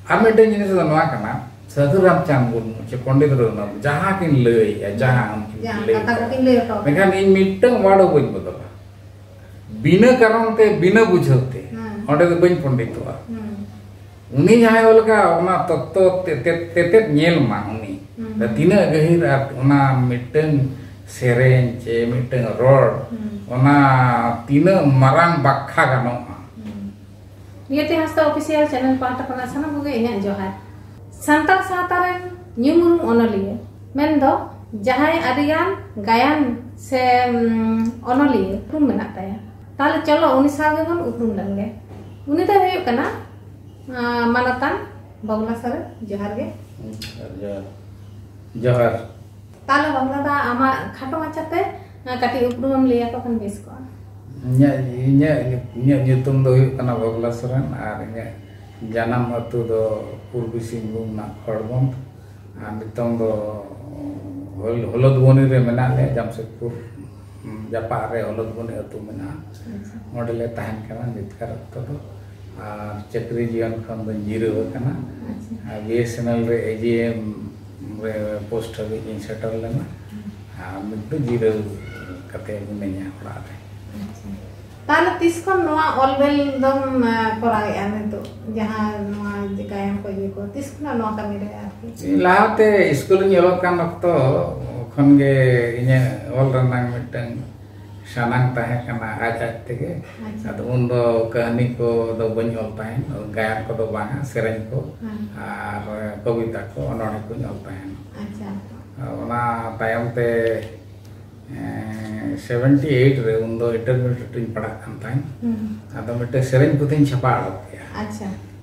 ᱟᱨ ᱢᱤᱫᱴᱮᱱ ᱡᱤᱱᱤᱥ ᱫᱚ ᱱᱚᱣᱟ ᱠᱟᱱᱟ ᱥᱟᱹᱫᱷᱩ ᱨᱟᱢᱪᱟᱸᱫᱽ ᱢᱩᱨᱢᱩ ᱪᱮ ᱯᱚᱱᱰᱤᱛ ᱨᱚᱜᱷᱩᱱᱟᱛᱷ ᱡᱟᱦᱟᱸ ᱠᱤᱱ ᱞᱟᱹᱭᱮᱜᱼᱟ ᱡᱟᱦᱟᱸ ᱩᱱᱠᱤᱱ ᱡᱟᱦᱟᱸ ᱞᱟᱹᱭ ᱠᱟᱛᱷᱟ ᱠᱚᱠᱤᱱ ᱞᱟᱹᱭ ᱦᱚᱴᱚ ᱟᱠᱟᱫᱟ᱾ ᱢᱮᱱᱠᱷᱟᱱ ᱤᱧ ᱢᱤᱫᱴᱟᱝ ᱣᱟᱨᱰ ᱦᱚᱸ ᱵᱟᱹᱧ ᱵᱚᱫᱚᱞᱟ ᱵᱤᱱᱟᱹ ᱠᱟᱨᱚᱱ ᱛᱮ ᱵᱤᱱᱟᱹ ᱵᱩᱡᱷᱟᱹᱣ ᱛᱮ ᱦᱮᱸ᱾ ᱚᱸᱰᱮ ᱫᱚ ᱵᱟᱹᱧ ᱯᱚᱱᱰᱤᱛᱚᱜᱼᱟ ᱦᱩᱸ, ᱩᱱᱤ ᱡᱟᱦᱟᱸᱭ ᱚᱞ ᱠᱟᱜᱼᱟ ᱚᱱᱟ ᱛᱚᱛᱛᱚ ᱛᱮ- ᱛᱮ- ᱛᱮᱛᱮᱫ ᱧᱮᱞ ᱢᱟ ᱩᱱᱤ ᱦᱩᱸ᱾ ᱛᱚ ᱛᱤᱱᱟᱹᱜ ᱜᱟᱹᱦᱤᱨ ᱟᱨ ᱚᱱᱟ ᱢᱤᱫᱴᱟᱝ ᱥᱮᱨᱮᱧ ᱪᱮ ᱢᱤᱫᱴᱟᱝ ᱨᱚᱲ ᱦᱩᱸ᱾ ᱚᱱᱟ ᱛᱤᱱᱟᱹᱜ ᱢᱟᱨᱟᱝ ᱵᱟᱠᱷᱟ ᱜᱟᱱᱚᱜᱼᱟ ᱱᱤᱭᱟᱹᱛᱮ ᱦᱟᱸᱥᱫᱟ ᱚᱯᱷᱤᱥᱤᱭᱟᱞ ᱪᱮᱱᱮᱞ ᱯᱟᱦᱴᱟ ᱠᱷᱚᱱ ᱥᱟᱱᱟᱢ ᱠᱚᱜᱮ ᱤᱧᱟᱹᱜ ᱡᱚᱦᱟᱨ ᱥᱟᱱᱛᱟᱲ ᱥᱟᱶᱛᱟ ᱨᱮᱱ ᱧᱩᱢᱩᱨᱩᱢ ᱚᱱᱚᱞᱤᱭᱟᱹ ᱢᱮᱱ ᱫᱚ ᱡᱟᱦᱟᱸᱭ ᱟᱹᱰᱤᱜᱟᱱ ᱜᱟᱭᱟᱱ ᱥᱮ ᱚᱱᱚᱞᱤᱭᱟᱹ ᱩᱯᱨᱩᱢ ᱢᱮᱱᱟᱜ ᱛᱟᱭᱟ ᱛᱟᱦᱞᱮ ᱪᱚᱞᱚ ᱩᱱᱤ ᱥᱟᱶ ᱜᱮᱵᱚᱱ ᱩᱯᱨᱩᱢ ᱞᱮᱱ ᱜᱮ ᱩᱱᱤ ᱫᱚ ᱦᱩᱭᱩᱜ ᱠᱟᱱᱟ ᱢᱟᱱᱚᱛᱟᱱ ᱵᱟᱵᱞᱟ ᱥᱚᱨᱮᱱ ᱡᱚᱦᱟᱨ ᱜᱮ ᱡᱚᱦᱟᱨ ᱛᱟᱦᱞᱮ ᱵᱟᱝᱞᱟ ᱫᱟ ᱟᱢᱟᱜ ᱠᱷᱟᱴᱚ ᱢᱟᱪᱷᱟᱛᱮ ᱠᱟᱹᱴᱤᱡ ᱩᱯᱨᱩᱢᱮᱢ ᱞᱟᱹᱭ ᱟᱠᱚ ᱠᱷᱟᱱ ᱵᱮᱥ ᱠᱚᱜᱼᱟ ᱤᱧᱟᱹᱜ ᱤᱧᱟᱹᱜ ᱤᱧᱟᱹᱜ ᱧᱩᱛᱩᱢ ᱫᱚ ᱦᱩᱭᱩᱜ ᱠᱟᱱᱟ ᱵᱟᱵᱞᱟ ᱥᱚᱨᱮᱱ ᱟᱨ ᱤᱧᱟᱹᱜ ᱡᱟᱱᱟᱢ ᱟᱹᱛᱩ ᱫᱚ ᱯᱩᱨᱵᱤ ᱥᱤᱝᱵᱷᱩᱢ ᱨᱮᱱᱟᱜ ᱠᱷᱚᱲᱵᱚᱱᱫ ᱟᱨ ᱱᱤᱛᱚᱝ ᱫᱚ ᱦᱚᱞᱚᱫ ᱵᱚᱱᱤ ᱨᱮ ᱢᱮᱱᱟᱜ ᱞᱮᱭᱟ ᱡᱟᱢᱥᱮᱫᱽᱯᱩᱨ ᱡᱟᱯᱟᱜ ᱨᱮ ᱦᱚᱞᱚᱫ ᱵᱚᱱᱤ ᱟᱹᱛᱩ ᱢᱮᱱᱟᱜᱼᱟ ᱚᱸᱰᱮ ᱞᱮ ᱛᱟᱦᱮᱱ ᱠᱟᱱᱟ ᱱᱤᱛᱠᱟᱨ ᱚᱠᱛᱚ ᱫᱚ ᱟᱨ ᱪᱟᱹᱠᱨᱤ ᱡᱤᱭᱚᱱ ᱠᱷᱚᱱ ᱫᱚᱧ ᱡᱤᱨᱟᱹᱣ ᱟᱠᱟᱱᱟ ᱟᱨ ᱵᱤ ᱮᱥ ᱮᱱ ᱮᱞ ᱨᱮ ᱮ ᱡᱤ ᱮᱢ ᱯᱳᱥᱴ ᱦᱟᱹᱵᱤᱡ ᱤᱧ ᱥᱮᱴᱮᱨ ᱞᱮᱱᱟ ᱟᱨ ᱱᱤᱛ ᱫᱚ ᱡᱤᱨᱟᱹᱣ ᱠᱟᱛᱮ ᱢᱤᱱᱟᱹᱧᱟ ᱚᱲᱟᱜ ᱨᱮ ᱛᱟᱦᱚᱞᱮ ᱛᱤᱥ ᱠᱷᱚᱱ ᱱᱚᱣᱟ ᱚᱞᱵᱮᱞ ᱫᱚᱢ ᱠᱚᱨᱟᱣᱮᱫᱼᱟ ᱱᱤᱛᱚᱜ ᱡᱟᱦᱟᱸ ᱱᱚᱣᱟ ᱜᱟᱭᱟᱱ ᱠᱚ ᱤᱭᱟᱹ ᱠᱚ ᱛᱤᱥ ᱠᱷᱚᱱᱟᱜ ᱱᱚᱣᱟ ᱠᱟᱹᱢᱤ ᱨᱮ ᱟᱨᱠᱤ ᱞᱟᱦᱟᱛᱮ ᱥᱠᱩᱞᱤᱧ ᱚᱞᱚᱜ ᱠᱟᱱ ᱚᱠᱛᱚ ᱠᱷᱚᱱ ᱜᱮ ᱤᱧᱟᱹᱜ ᱚᱞ ᱨᱮᱱᱟᱜ ᱢᱤᱫᱴᱟᱝ ᱥᱟᱱᱟᱝ ᱛᱟᱦᱮᱸ ᱠᱟᱱᱟ ᱟᱡ ᱟᱡ ᱛᱮᱜᱮ ᱟᱫᱚ ᱩᱱ ᱫᱚ ᱠᱟᱹᱦᱱᱤ ᱠᱚ ᱫᱚ ᱵᱟᱹᱧ ᱚᱞ ᱛᱟᱦᱮᱸᱫ ᱜᱟᱭᱟᱱ ᱠᱚᱫᱚ ᱵᱟᱝᱟ ᱥᱮᱨᱮᱧ ᱠᱚ ᱟᱨ ᱠᱚᱵᱤᱛᱟ ᱠᱚ ᱚᱱᱚᱬᱦᱮ ᱠᱚᱧ ᱚᱞ ᱛᱟᱦᱮᱸᱫ ᱚᱱᱟ ᱛᱟᱭᱚᱢ ᱛᱮ ᱥᱮᱵᱷᱮᱱᱴᱤ ᱮᱭᱤᱴ ᱨᱮ ᱩᱱ ᱫᱚ ᱤᱱᱴᱟᱨᱢᱤᱰᱤᱭᱮᱴ ᱨᱤᱧ ᱯᱟᱲᱦᱟᱜ ᱠᱟᱱ ᱛᱟᱦᱮᱸᱫ ᱟᱫᱚ ᱢᱤᱫᱴᱮᱱ ᱥᱮᱨᱮᱧ ᱯᱩᱛᱷᱤᱧ ᱪᱷᱟᱯᱟ ᱚᱰᱚᱠ ᱠᱮᱫᱼᱟ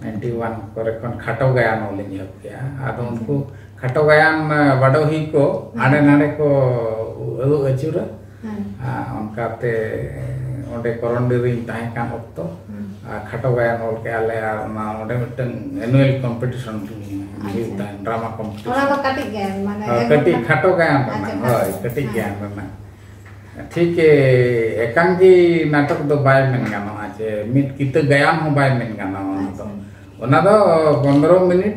ᱱᱟᱭᱤᱱᱴᱤ ᱣᱟᱱ ᱠᱚᱨᱮ ᱠᱷᱚᱱ ᱠᱷᱟᱴᱚ ᱜᱟᱭᱟᱱ ᱚᱞᱤᱧ ᱮᱦᱚᱵ ᱠᱮᱜᱼᱟ ᱟᱫᱚ ᱩᱱᱠᱩ ᱠᱷᱟᱴᱚ ᱜᱟᱭᱟᱱ ᱵᱟᱰᱚᱦᱤ ᱠᱚ ᱦᱟᱸᱰᱮ ᱱᱟᱰᱮ ᱠᱚ ᱟᱹᱨᱩ ᱟᱹᱪᱩᱨᱟ ᱚᱱᱠᱟᱛᱮ ᱚᱸᱰᱮ ᱠᱚᱨᱚᱱᱰᱤ ᱨᱤᱧ ᱛᱟᱦᱮᱸ ᱠᱟᱱ ᱚᱠᱛᱚ ᱟᱨ ᱠᱷᱟᱴᱚ ᱜᱟᱭᱟᱱ ᱚᱞ ᱠᱮᱜᱼᱟ ᱞᱮ ᱟᱨ ᱚᱱᱟ ᱚᱸᱰᱮ ᱢᱤᱫᱴᱟᱝ ᱮᱱᱩᱭᱮᱞ ᱠᱚᱢᱯᱤᱴᱤᱥᱚᱱ ᱦᱩᱭᱩᱜ ᱛᱟᱦᱮᱸ ᱰᱨᱟᱢᱟ ᱠᱚᱢᱯᱤᱴᱤᱥᱚᱱ ᱠᱟᱹᱴᱤᱡ ᱜᱟᱭᱟᱱ ᱢᱟᱱᱮ ᱠᱟᱹᱴᱤᱡ ᱠᱷᱟᱴᱚ ᱜᱟᱭᱟᱱ ᱨᱮᱱᱟᱜ ᱦᱳᱭ ᱠᱟᱹᱴᱤᱡ ᱜᱟᱭᱟᱱ ᱨᱮᱱᱟᱜ ᱴᱷᱤᱠ ᱮᱠᱟᱝᱜᱤ ᱱᱟᱴᱚᱠ ᱫᱚ ᱵᱟᱭ ᱢᱮᱱ ᱜᱟᱱᱚᱜᱼᱟ ᱡᱮ ᱢᱤᱫ ᱠᱤᱛᱟᱹ ᱜᱟᱭᱟᱱ ᱦᱚᱸ ᱵᱟᱭ ᱢᱮᱱ ᱜᱟᱱᱚᱜᱼᱟ ᱚᱱᱟ ᱫᱚ ᱚᱱᱟ ᱫᱚ ᱯᱚᱱᱨᱚ ᱢᱤᱱᱤᱴ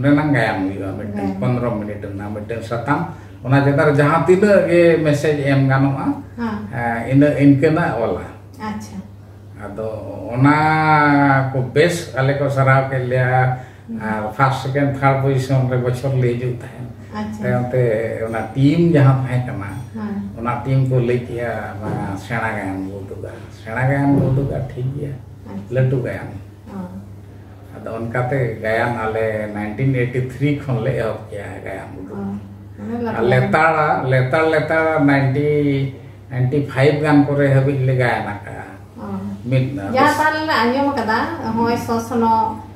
ᱨᱮᱱᱟᱝ ᱜᱟᱭᱟᱱ ᱦᱩᱭᱩᱜᱼᱟ ᱢᱤᱫᱴᱟᱝ ᱯᱚᱱᱨᱚ ᱢᱤᱱᱤᱴ ᱨᱮᱱᱟᱜ ᱢᱤᱫᱴᱟᱝ ᱥᱟᱛᱟᱢ ᱚᱱᱟ ᱪᱮᱛᱟᱱ ᱨᱮ ᱡᱟᱦᱟᱸ ᱛᱤᱱᱟᱹᱜ ᱜᱮ ᱢᱮᱥᱮᱡᱽ ᱮᱢ ᱜᱟᱱᱚᱜᱼᱟ ᱤᱱᱟᱹ ᱤᱱᱠᱟᱹᱱᱟᱜ ᱚᱞᱟ ᱟᱪᱪᱷᱟ ᱟᱫᱚ ᱚᱱᱟ ᱠᱚ ᱵᱮᱥ ᱟᱞᱮ ᱠᱚ ᱥᱟᱨᱦᱟᱣ ᱠᱮᱫ ᱞᱮᱭᱟ ᱟᱨ ᱯᱷᱟᱨᱥᱴ ᱥᱮᱠᱮᱱᱰ ᱛᱷᱟᱨᱰ ᱯᱚᱡᱤᱥᱚᱱ ᱨᱮ ᱵᱚᱪᱷᱚᱨ ᱞᱮ ᱦᱤᱡᱩᱜ ᱛᱟᱦᱮᱸᱫ ᱛᱟᱭᱚᱢ ᱛᱮ ᱚᱱᱟ ᱴᱤᱢ ᱡᱟᱦᱟᱸ ᱛᱟᱦᱮᱸ ᱠᱟᱱᱟ ᱚᱱᱟ ᱴᱤᱢ ᱠᱚ ᱞᱟᱹᱭ ᱠᱮᱜᱼᱟ ᱵᱟᱝᱟ ᱥᱮᱬᱟ ᱜᱟᱭᱟᱱ ᱵᱚ ᱩᱫᱩᱜᱟ ᱥᱮᱬᱟ ᱜᱟᱭᱟᱱ ᱵᱚ ᱩᱫᱩᱜᱟ ᱴᱷᱤᱠ ᱜᱮᱭᱟ ᱞᱟᱹᱴᱩ ᱜᱟᱭᱟᱱ ᱟᱫᱚ ᱚᱱᱠᱟᱛᱮ ᱜᱟᱭᱟᱱ ᱟᱞᱮ 1983 ᱠᱷᱚᱱ ᱞᱮ ᱮᱦᱚᱵ ᱠᱮᱜᱼᱟ ᱜᱟᱭᱟᱱ ᱩᱫᱩᱜ ᱞᱮᱛᱟᱲ ᱞᱮᱛᱟᱲ ᱞᱮᱛᱟᱲ 90 95 ᱜᱟᱱ ᱠᱚᱨᱮ ᱦᱟᱹᱵᱤᱡ ᱞᱮ ᱜᱟᱭᱟᱱ ᱟᱠᱟᱫᱼᱟ ᱢᱤᱫ ᱡᱟᱦᱟᱸ ᱛᱟᱦᱞᱮ ᱟᱸᱡᱚᱢ ᱟᱠᱟᱫᱟ ᱦᱚᱸᱜᱼᱚᱭ ᱥᱚᱥᱱᱚ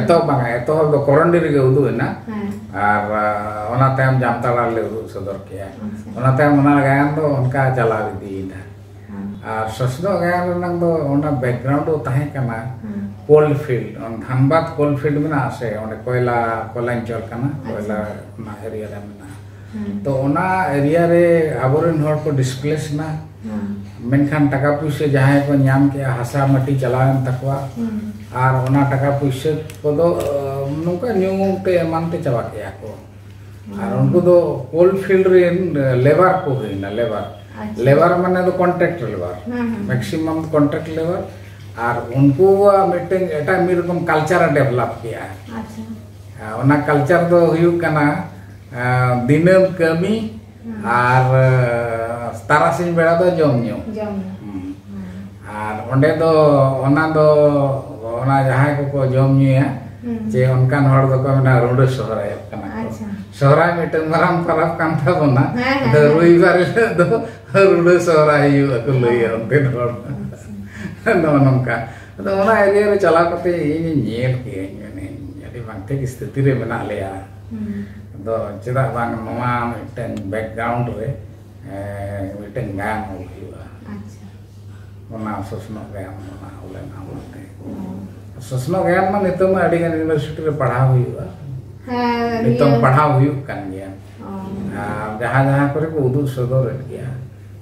ᱮᱛᱚᱦᱚᱵ ᱵᱟᱝᱟ ᱮᱛᱚᱦᱚᱵ ᱫᱚ ᱠᱚᱨᱚᱱᱰᱤ ᱨᱮᱜᱮ ᱩᱫᱩᱜ ᱮᱱᱟ ᱟᱨ ᱚᱱᱟ ᱛᱟᱭᱚᱢ ᱡᱟᱢᱛᱟᱲᱟ ᱞᱮ ᱩᱫᱩᱜ ᱥᱚᱫᱚᱨ ᱠᱮᱜᱼᱟ ᱚᱱᱟ ᱛᱟᱭᱚᱢ ᱚᱱᱟ ᱜᱟᱭᱟᱱ ᱫᱚ ᱚᱱᱠᱟ ᱪᱟᱞᱟᱣ ᱤᱫᱤᱭᱮᱱᱟ ᱟᱨ ᱥᱚᱥᱱᱚ ᱜᱟᱭᱟᱱ ᱨᱮᱱᱟᱜ ᱫᱚ ᱚᱱᱟ ᱵᱮᱠᱜᱨᱟᱣᱩᱱᱰ ᱫᱚ ᱛᱟᱦᱮᱸ ᱠᱟᱱᱟ coal field Dhanbad coal field ᱢᱮᱱᱟᱜᱼᱟ ᱥᱮ ᱚᱸᱰᱮ ᱠᱚᱭᱞᱟ ᱠᱚᱭᱞᱟᱧᱪᱚᱞ ᱠᱟᱱᱟ ᱠᱚᱭᱞᱟ ᱚᱱᱟ ᱮᱨᱤᱭᱟ ᱨᱮ ᱢᱮᱱᱟᱜᱼᱟ ᱛᱚ ᱚᱱᱟ ᱮᱨᱤᱭᱟ ᱨᱮ ᱟᱵᱚᱨᱮᱱ ᱦᱚᱲ ᱠᱚ ᱰᱤᱥᱯᱞᱮᱥ ᱮᱱᱟ ᱢᱮᱱᱠᱷᱟᱱ ᱴᱟᱠᱟ ᱯᱩᱭᱥᱟᱹ ᱡᱟᱦᱟᱸᱭ ᱠᱚ ᱧᱟᱢ ᱠᱮᱜᱼᱟ ᱦᱟᱥᱟ ᱢᱟᱹᱴᱤ ᱪᱟᱞᱟᱣᱮᱱ ᱛᱟᱠᱚᱣᱟ ᱟᱨ ᱚᱱᱟ ᱴᱟᱠᱟ ᱯᱩᱭᱥᱟᱹ ᱠᱚᱫᱚ ᱱᱚᱝᱠᱟ ᱧᱩᱢ ᱛᱮ ᱮᱢᱟᱱ ᱛᱮ ᱪᱟᱵᱟ ᱠᱮᱜᱼᱟ ᱠᱚ ᱟᱨ ᱩᱱᱠᱩ ᱫᱚ ᱠᱳᱞ ᱯᱷᱤᱞᱰ ᱨᱮᱱ ᱞᱮᱵᱟᱨ ᱠᱚ ᱦᱩᱭᱱᱟ ᱞᱮᱵᱟᱨ ᱞᱮᱵᱟᱨ ᱢᱟᱱᱮ ᱫᱚ contract labour maximum contract labour ᱟᱨ ᱩᱱᱠᱩᱣᱟᱜ ᱢᱤᱫᱴᱮᱱ ᱮᱴᱟᱜ ᱢᱤᱫ ᱨᱚᱠᱚᱢ ᱠᱟᱞᱪᱟᱨ ᱰᱮᱵᱷᱞᱚᱯ ᱠᱮᱜᱼᱟ ᱚᱱᱟ ᱠᱟᱞᱪᱟᱨ ᱫᱚ ᱦᱩᱭᱩᱜ ᱠᱟᱱᱟ ᱫᱤᱱᱟᱹᱢ ᱠᱟᱹᱢᱤ ᱟᱨ ᱛᱟᱨᱟᱥᱤᱧ ᱵᱮᱲᱟ ᱫᱚ ᱡᱚᱢ ᱧᱩ ᱡᱚᱢ ᱧᱩ ᱟᱨ ᱚᱸᱰᱮ ᱫᱚ ᱚᱱᱟ ᱫᱚ ᱚᱱᱟ ᱡᱟᱦᱟᱸᱭ ᱠᱚᱠᱚ ᱡᱚᱢ ᱧᱩᱭᱟ ᱡᱮ ᱚᱱᱠᱟᱱ ᱦᱚᱲ ᱫᱚᱠᱚ ᱢᱮᱱᱟ ᱨᱩᱰᱟᱹ ᱥᱚᱦᱨᱟᱭᱚᱜ ᱠᱟᱱᱟ ᱥᱚᱦᱨᱟᱭ ᱢᱤᱫᱴᱟᱝ ᱢᱟᱨᱟᱝ ᱯᱚᱨᱚᱵᱽ ᱠᱟᱱ ᱛᱟᱵᱚᱱᱟ ᱟᱫᱚ ᱨᱚᱵᱤᱵᱟᱨ ᱦᱤᱞᱳᱜ ᱫᱚ ᱨᱩᱰᱟᱹ ᱥᱚᱦᱨᱟᱭ ᱦᱩᱭᱩᱜᱼᱟ ᱠᱚ ᱞᱟᱹᱭᱟ ᱚᱱᱛᱮᱱ ᱦᱚᱲ ᱱᱚᱜᱼᱚ ᱱᱚᱝᱠᱟ ᱟᱫᱚ ᱚᱱᱟ ᱮᱨᱤᱭᱟ ᱨᱮ ᱪᱟᱞᱟᱣ ᱠᱟᱛᱮ ᱤᱧᱤᱧ ᱧᱮᱞ ᱠᱮᱜᱼᱟᱹᱧ ᱢᱮᱱᱮᱧ ᱟᱹᱰᱤ ᱵᱟᱝ ᱴᱷᱤᱠ ᱥᱛᱷᱤᱛᱤ ᱨᱮ ᱢᱮᱱᱟᱜ ᱞᱮᱭᱟ ᱫᱚ ᱪᱮᱫᱟᱜ ᱵᱟᱝ ᱱᱚᱣᱟ ᱢᱤᱫᱴᱮᱱ ᱵᱮᱠᱜᱨᱟᱣᱩᱱᱰ ᱨᱮ ᱢᱤᱫᱴᱮᱱ ᱜᱟᱱ ᱚᱞ ᱦᱩᱭᱩᱜᱼᱟ ᱚᱱᱟ ᱥᱚᱥᱱᱚᱜ ᱜᱟᱭᱟᱱ ᱚᱱᱟ ᱚᱞ ᱮᱱᱟ ᱚᱱᱟᱛᱮ ᱥᱚᱥᱱᱚᱜ ᱜᱟᱭᱟᱱ ᱢᱟ ᱱᱤᱛᱚᱜ ᱢᱟ ᱟᱹᱰᱤᱜᱟᱱ ᱤᱭᱩᱱᱤᱵᱷᱟᱨᱥᱤᱴᱤ ᱨᱮ ᱯᱟᱲᱦᱟᱣ ᱦᱩᱭᱩᱜᱼᱟ ᱱᱤᱛᱚᱝ ᱯᱟᱲᱦᱟᱣ ᱦᱩᱭᱩᱜ ᱠᱟᱱ ᱜᱮᱭᱟ ᱟᱨ ᱡᱟᱦᱟᱸ ᱡᱟᱦᱟᱸ ᱠᱚᱨᱮ ᱠᱚ ᱩᱫᱩᱜ ᱥᱚᱫᱚᱨᱮᱫ ᱜᱮᱭᱟ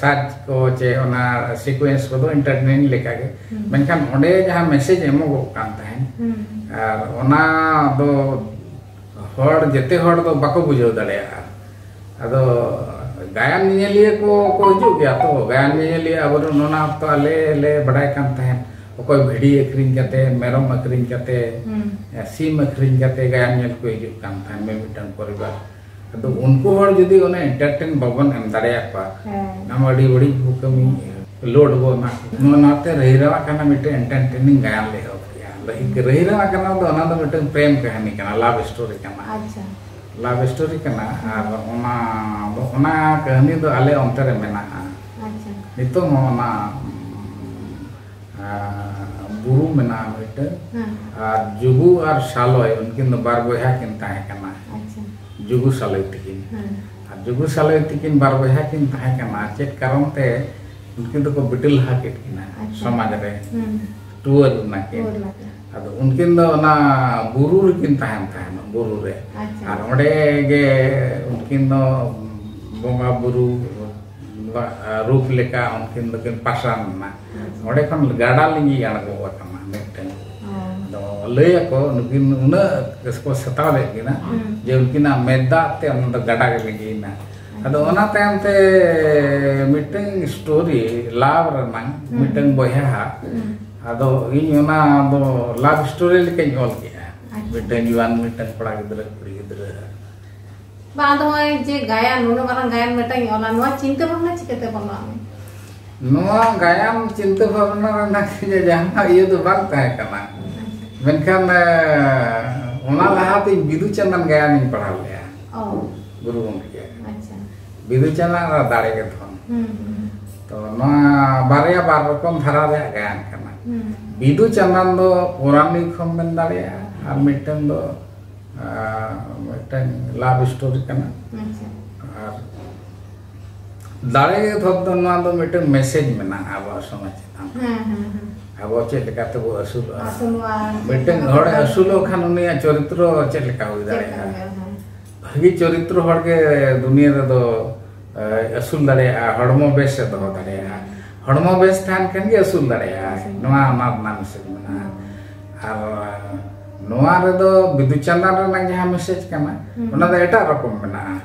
ᱥᱟᱨᱪ ᱠᱚ ᱪᱮ ᱚᱱᱟ ᱥᱤᱠᱩᱭᱮᱱᱥ ᱠᱚᱫᱚ ᱤᱱᱴᱟᱨᱴᱮᱱᱤᱝ ᱞᱮᱠᱟᱜᱮ ᱢᱮᱱᱠᱷᱟᱱ ᱚᱸᱰᱮ ᱡᱟᱦᱟᱸ ᱢᱮᱥᱮᱡᱽ ᱮᱢᱚᱜᱚᱜ ᱠᱟᱱ ᱛᱟᱦᱮᱸᱫ ᱟᱨ ᱚᱱᱟ ᱫᱚ ᱦᱚᱲ ᱡᱮᱛᱮ ᱦᱚᱲ ᱫᱚ ᱵᱟᱠᱚ ᱵᱩᱡᱷᱟᱹᱣ ᱫᱟᱲᱮᱭᱟᱜᱼᱟ ᱟᱫᱚ ᱜᱟᱭᱟᱱ ᱧᱮᱧᱮᱞᱤᱭᱟᱹ ᱠᱚ ᱠᱚ ᱦᱤᱡᱩᱜ ᱜᱮᱭᱟ ᱛᱚ ᱜᱟᱭᱟᱱ ᱧᱮᱧᱮᱞᱤᱭᱟᱹ ᱟᱵᱚ ᱫᱚ ᱚᱱᱟ ᱚᱠᱛᱚ ᱟᱞᱮ ᱞᱮ ᱵᱟᱰᱟᱭ ᱠᱟᱱ ᱛᱟᱦᱮᱸᱫ ᱚᱠᱚᱭ ᱵᱷᱤᱰᱤ ᱟᱹᱠᱷᱨᱤᱧ ᱠᱟᱛᱮ ᱢᱮᱨᱚᱢ ᱟᱹᱠᱷᱨᱤᱧ ᱠᱟᱛᱮ ᱥᱤᱢ ᱟᱹᱠᱷᱨᱤᱧ ᱠᱟᱛᱮ ᱜᱟᱭᱟᱱ ᱧᱮᱞ ᱠᱚ ᱦᱤᱡᱩᱜ ᱠᱟᱱ ᱛᱟᱦᱮᱸᱫ ᱢᱤᱢᱤᱫᱴᱟᱝ ᱯᱚᱨᱤᱵᱟᱨ ᱟᱫᱚ ᱩᱱᱠᱩ ᱦᱚᱲ ᱡᱩᱫᱤ ᱚᱱᱟ ᱮᱱᱴᱟᱨᱴᱮᱱ ᱵᱟᱵᱚᱱ ᱮᱢ ᱫᱟᱲᱮᱭᱟ ᱠᱚᱣᱟ ᱱᱟᱢ ᱟᱹᱰᱤ ᱵᱟᱹᱲᱤᱡ ᱵᱚ ᱠᱟᱹᱢᱤ ᱞᱳᱰ ᱵᱚ ᱮᱢᱟ ᱱᱚᱣᱟ ᱱᱟᱛᱮ ᱨᱟᱹᱦᱤᱨᱟᱣᱟ ᱠᱟᱱᱟ ᱢᱤᱫᱴᱮᱱ ᱮᱱᱴᱟᱨᱴᱮᱱᱤᱝ ᱜᱟᱭᱟᱱ ᱞᱮ ᱮᱦᱚᱵ ᱠᱮᱜᱼᱟ ᱨᱟᱹᱦᱤᱨᱟᱣᱟ ᱠᱟᱱᱟ ᱫᱚ ᱚᱱᱟ ᱫᱚ ᱢᱤᱫᱴᱮᱱ ᱯᱨᱮᱢ ᱠᱟᱹᱦᱱᱤ ᱠᱟᱱᱟ ᱞᱟᱵᱽ ᱥᱴᱳᱨᱤ ᱠᱟᱱᱟ ᱟᱪᱪᱷᱟ ᱞᱟᱵᱽ ᱥᱴᱳᱨᱤ ᱠᱟᱱᱟ ᱟᱨ ᱚᱱᱟ ᱚᱱᱟ ᱠᱟᱹᱦᱱᱤ ᱫᱚ ᱟᱞᱮ ᱚᱱᱛᱮ ᱨᱮ ᱢᱮᱱᱟᱜᱼᱟ ᱟᱪᱪᱷᱟ ᱱᱤᱛᱚᱜ ᱦᱚᱸ ᱚᱱᱟ ᱵᱩᱨᱩ ᱢᱮᱱᱟᱜᱼᱟ ᱢᱤᱫᱴᱟᱝ ᱟᱨ ᱡᱩᱜᱩ ᱟᱨ ᱥᱟᱞᱚᱭ ᱩᱱᱠᱤᱱ ᱫᱚ ᱵᱟᱨ ᱵᱚᱭᱦᱟ ᱠᱤᱱ ᱛᱟᱦᱮᱸ ᱠᱟᱱᱟ ᱡᱩᱜᱩ ᱥᱟᱞᱚᱭ ᱛᱤᱠᱤᱱ ᱟᱨ ᱡᱩᱜᱩ ᱥᱟᱞᱚᱭ ᱛᱤᱠᱤᱱ ᱵᱟᱨ ᱵᱚᱭᱦᱟ ᱠᱤᱱ ᱛᱟᱦᱮᱸ ᱠᱟᱱᱟ ᱪᱮᱫ ᱠᱟᱨᱚᱱ ᱛᱮ ᱩᱱᱠᱤᱱ ᱫᱚᱠᱚ ᱵᱤᱴᱤᱞ ᱞᱟᱦᱟ ᱠᱮᱫ ᱠᱤᱱᱟ ᱥᱚᱢᱟᱡᱽ ᱨᱮ ᱴᱩᱣᱟᱹᱨ ᱞᱮᱱᱟ ᱠᱤᱱ ᱟᱫᱚ ᱩᱱᱠᱤᱱ ᱫᱚ ᱚᱱᱟ ᱵᱩᱨᱩ ᱨᱮᱠᱤᱱ ᱛᱟᱦᱮᱱ ᱛᱟᱦᱮᱱ ᱵᱩᱨᱩ ᱨᱮ ᱟᱨ ᱚᱸᱰᱮ ᱜᱮ ᱩᱱᱠᱤᱱ ᱫᱚ ᱵᱚᱸᱜᱟ ᱵᱩᱨᱩ ᱨᱩᱯ ᱞᱮᱠᱟ ᱩᱱᱠᱤᱱ ᱫᱚᱠᱤᱱ ᱯᱟᱥᱟᱱ ᱮᱱᱟ ᱚᱸᱰᱮ ᱠᱷᱚᱱ ᱜᱟᱰᱟ ᱞᱤᱸᱜᱤ ᱟᱬᱜᱚ ᱟᱠᱟᱱᱟ ᱢᱤᱫᱴᱟᱝ ᱟᱫᱚ ᱞᱟᱹᱭ ᱟᱠᱚ ᱱᱩᱠᱤᱱ ᱩᱱᱟᱹᱜ ᱠᱚ ᱥᱮᱛᱟᱣ ᱞᱮᱫ ᱠᱤᱱᱟ ᱡᱮ ᱩᱱᱠᱤᱱᱟᱜ ᱢᱮᱫ ᱫᱟᱜ ᱛᱮ ᱚᱱᱟ ᱫᱚ ᱜᱟᱰᱟ ᱜᱮ ᱞᱤᱸᱜᱤᱭᱮᱱᱟ ᱟᱫᱚ ᱚᱱᱟ ᱛᱟᱭᱚᱢ ᱛᱮ ᱢᱤᱫᱴᱟᱝ ᱥᱴᱳᱨᱤ ᱞᱟᱵᱷ ᱨᱮᱱᱟᱝ ᱢᱤᱫᱴᱟᱝ ᱵᱚᱭᱦᱟ ᱟᱫᱚ ᱤᱧ ᱚᱱᱟ ᱫᱚ ᱞᱟᱵᱷ ᱥᱴᱳᱨᱤ ᱞᱮᱠᱟᱧ ᱚᱞ ᱠᱮᱫᱼᱟ ᱢᱤᱫᱴᱟᱝ ᱡᱩᱣᱟᱱ ᱢᱤᱫᱴᱟᱝ ᱠᱚᱲᱟ ᱜᱤᱫᱽᱨᱟᱹ ᱠᱩᱲᱤ ᱜᱤᱫᱽᱨᱟᱹ ᱵᱟᱝ ᱟᱫᱚ ᱱᱚᱜᱼᱚᱭ ᱡᱮ ᱜᱟᱭᱟᱱ ᱱᱩᱱᱟᱹᱜ ᱢᱟᱨᱟᱝ ᱜᱟᱭᱟᱱ ᱢᱤᱫᱴᱟᱝ ᱚᱞᱟ ᱱᱚᱣᱟ ᱪᱤᱱᱛᱟᱹ ᱵᱷᱟᱵᱽᱱᱟ ᱪᱤᱠᱟᱹᱛᱮ ᱵᱟᱹᱱᱩᱜᱼᱟ ᱱᱚᱣᱟ ᱜᱟᱭᱟᱱ ᱪᱤᱱᱛᱟᱹ ᱵᱷᱟᱵᱽᱱᱟ ᱨᱮᱱᱟᱜ ᱡᱟᱦᱟᱱᱟᱜ ᱤᱭᱟᱹ ᱫᱚ ᱵᱟᱝ ᱛᱟᱦᱮᱸ ᱠᱟᱱᱟ ᱢᱮᱱᱠᱷᱟᱱ ᱚᱱᱟ ᱞᱟᱦᱟᱛᱮ ᱵᱤᱫᱩ ᱪᱟᱸᱫᱟᱱ ᱜᱟᱭᱟᱱᱤᱧ ᱯᱟᱲᱦᱟᱣ ᱞᱮᱫᱼᱟ ᱜᱩᱨᱩ ᱜᱚᱢᱠᱮ ᱵᱤᱫᱩ ᱪᱟᱸᱫᱟᱱ ᱟᱨ ᱫᱟᱲᱮ ᱜᱮ ᱫᱷᱚᱱ ᱛᱚ ᱱᱚᱣᱟ ᱵᱟᱨᱭᱟ ᱵᱟᱨ ᱨᱚᱠᱚᱢ ᱫᱷᱟᱨᱟ ᱨᱮᱭᱟᱜ ᱜᱟᱭᱟᱱ ᱠᱟᱱᱟ ᱵᱤᱫᱩ ᱪᱟᱸᱫᱟᱱ ᱫᱚ ᱯᱩᱨᱟᱱᱤᱠ ᱦᱚᱸᱢ ᱢᱮᱱ ᱫᱟᱲᱮᱭᱟᱜᱼᱟ ᱟᱨ ᱢᱤᱫᱴᱮᱱ ᱫᱚ ᱢᱤᱫᱴᱟᱝ ᱞᱟᱵᱷ ᱥᱴᱳᱨᱤ ᱠᱟᱱᱟ ᱟᱨ ᱫᱟᱲᱮ ᱫᱷᱚᱯ ᱫᱚ ᱱᱚᱣᱟ ᱫᱚ ᱢᱤᱫᱴᱟᱝ ᱢᱮᱥᱮᱡᱽ ᱢᱮᱱᱟᱜᱼᱟ ᱟᱵᱚᱣᱟᱜ ᱥᱚᱢᱟᱡᱽ ᱪᱮᱛᱟᱱ ᱟᱵᱚ ᱪᱮᱫ ᱞᱮᱠᱟ ᱛᱮᱵᱚ ᱟᱹᱥᱩᱞᱚᱜᱼᱟ ᱢᱤᱫᱴᱟᱝ ᱦᱚᱲ ᱟᱹᱥᱩᱞᱚᱜ ᱠᱷᱟᱱ ᱩᱱᱤᱭᱟᱜ ᱪᱚᱨᱤᱛᱨᱚ ᱪᱮᱫ ᱞᱮᱠᱟ ᱦᱩᱭ ᱫᱟᱲᱮᱭᱟᱜᱼᱟ ᱵᱷᱟᱹᱜᱤ ᱪᱚᱨᱤᱛᱨᱚ ᱦᱚᱲᱜᱮ ᱫᱩᱱᱤᱭᱟᱹ ᱨᱮᱫᱚ ᱟᱹᱥᱩᱞ ᱫᱟᱲᱮᱭᱟᱜᱼᱟ ᱦᱚᱲᱢᱚ ᱵᱮᱥ ᱮ ᱫᱚᱦᱚ ᱫᱟᱲᱮᱭᱟᱜᱼᱟ ᱦᱚᱲᱢᱚ ᱵᱮᱥ ᱛᱟᱦᱮᱱ ᱠᱷᱟᱱ ᱜᱮ ᱟᱹᱥᱩᱞ ᱫᱟᱲᱮᱭᱟᱜᱼᱟ ᱱᱚᱣᱟ ᱚᱱᱟ ᱨᱮᱱᱟᱜ ᱢᱮᱥᱮᱡᱽ ᱢᱮᱱᱟᱜᱼᱟ ᱟᱨ ᱱᱚᱣᱟ ᱨᱮᱫᱚ ᱵᱤᱫᱩ ᱪᱟᱸᱫᱟᱱ ᱨᱮᱱᱟᱜ ᱡᱟᱦᱟᱸ ᱢᱮᱥᱮᱡᱽ ᱠᱟᱱᱟ ᱚᱱᱟ ᱫᱚ ᱮᱴᱟᱜ ᱨᱚᱠᱚᱢ ᱢᱮᱱᱟᱜᱼᱟ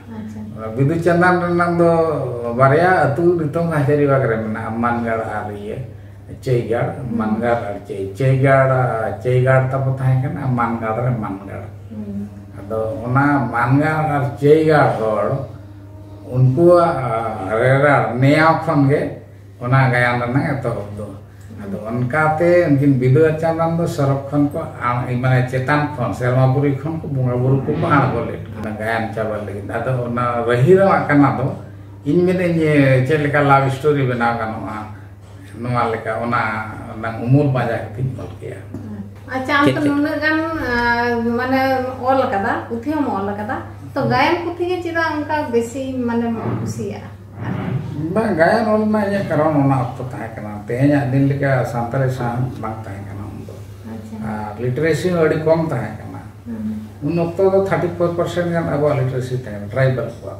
ᱵᱤᱫᱩ ᱪᱟᱸᱫᱟᱱ ᱨᱮᱱᱟᱜ ᱫᱚ ᱵᱟᱨᱭᱟ ᱟᱹᱛᱩ ᱱᱤᱛᱚᱝ ᱦᱟᱡᱟᱨᱤᱵᱟᱜᱽ ᱨᱮ ᱢᱮᱱᱟᱜᱼᱟ ᱢᱟᱱᱜᱟᱲ ᱟᱨ ᱤᱭᱟᱹ ᱪᱟᱹᱭᱜᱟᱲ ᱢᱟᱱᱜᱟᱲ ᱟᱨ ᱪᱟᱹᱭ ᱪᱟᱹᱭᱜᱟᱲ ᱪᱟᱹᱭᱜᱟᱲ ᱛᱟᱵᱚ ᱛᱟᱦᱮᱸ ᱠᱟᱱᱟ ᱢᱟᱱᱜᱟᱲ ᱨᱮ ᱢᱟᱱᱜᱟᱲ ᱟᱫᱚ ᱚᱱᱟ ᱢᱟᱱᱜᱟᱲ ᱟᱨ ᱪᱟᱹᱭᱜᱟᱲ ᱦᱚᱲ ᱩᱱᱠᱩᱣᱟᱜ ᱨᱮᱨᱟᱲ ᱱᱮᱭᱟᱣ ᱠᱷᱚᱱ ᱜᱮ ᱚᱱᱟ ᱜᱟᱭᱟᱱ ᱨᱮᱱᱟᱜ ᱮᱛᱚᱦᱚᱵ ᱫᱚ ᱟᱫᱚ ᱚᱱᱠᱟᱛᱮ ᱩᱱᱠᱤᱱ ᱵᱤᱫᱩ ᱟᱨ ᱪᱟᱸᱫᱟᱱ ᱫᱚ ᱥᱚᱨᱚᱜ ᱠᱷᱚᱱ ᱠᱚ ᱢᱟᱱᱮ ᱪᱮᱛᱟᱱ ᱠᱷᱚᱱ ᱥᱮᱨᱢᱟ ᱯᱩᱨᱤ ᱠᱷᱚᱱ ᱠᱚ ᱵᱚᱸᱜᱟ ᱵᱩᱨᱩ ᱠᱚ ᱠᱚ ᱟᱬᱜᱚ ᱞᱮᱫ ᱠᱤᱱᱟ ᱜᱟᱭᱟᱱ ᱪᱟᱵᱟ ᱞᱟᱹᱜᱤᱫ ᱟᱫᱚ ᱚᱱᱟ ᱨᱟᱹᱦᱤᱨᱟᱣᱟᱜ ᱠᱟᱱᱟ ᱫᱚ ᱤᱧ ᱢᱮᱱᱟᱹᱧ ᱪᱮᱫ ᱞᱮᱠᱟ ᱞᱟᱵᱷ ᱥᱴᱳᱨᱤ ᱵᱮᱱᱟᱣ ᱜᱟᱱᱚᱜᱼᱟ ᱱᱚᱣᱟ ᱞᱮᱠᱟ ᱚᱱᱟ ᱨᱮᱱᱟᱜ ᱩᱢᱩᱞ ᱯᱟᱸᱡᱟ ᱠᱟᱛᱮᱧ ᱚᱞ ᱠᱮᱜᱼᱟ ᱟᱪᱪᱷᱟ ᱟᱢ ᱛᱚ ᱱᱩᱱᱟᱹᱜ ᱜᱟᱱ ᱢᱟᱱᱮ ᱚᱞ ᱟᱠᱟᱫᱟ ᱯᱩᱛᱷᱤ ᱦᱚᱸᱢ ᱚᱞ ᱟᱠᱟᱫᱟ ᱛᱚ ᱜᱟᱭᱟᱱ ᱯᱩᱛᱷᱤ ᱜᱮ ᱪᱮᱫᱟᱜ ᱚᱱᱠᱟ ᱵᱮᱥᱤ ᱢᱟᱱᱮ ᱠᱩᱥᱤᱭᱟᱜᱼᱟ ᱵᱟᱝ ᱜᱟᱭᱟᱱ ᱚᱞ ᱨᱮᱱᱟᱜ ᱤᱧᱟᱹᱜ ᱠᱟᱨᱚᱱ ᱚᱱᱟ ᱚᱠᱛᱚ ᱛᱟᱦᱮᱸ ᱠᱟᱱᱟ ᱛᱮᱦᱮᱧᱟᱜ ᱫᱤᱱ ᱞᱮᱠᱟ ᱥᱟᱱᱛᱟᱲᱤ ᱥᱟᱶᱦᱮᱫ ᱵᱟᱝ ᱛᱟᱦᱮᱸ ᱠᱟᱱᱟ ᱩᱱ ᱫᱚ ᱟᱨ ᱞᱤᱴᱟᱨᱮᱥᱤ ᱦᱚᱸ ᱟᱹᱰᱤ ᱠᱚᱢ ᱛᱟᱦᱮᱸ ᱠᱟᱱᱟ ᱩᱱ ᱚᱠᱛᱚ ᱫᱚ ᱛᱷᱟᱨᱴᱤ ᱯᱷᱳᱨ ᱯᱟᱨᱥᱮᱱᱴ ᱜᱟᱱ ᱟᱵᱚᱣᱟᱜ ᱞᱤᱴᱟᱨᱮᱥᱤ ᱛᱟᱦᱮᱸ ᱠᱟᱱᱟ ᱴᱨᱟᱭᱵᱮᱞ ᱠᱚᱣᱟᱜ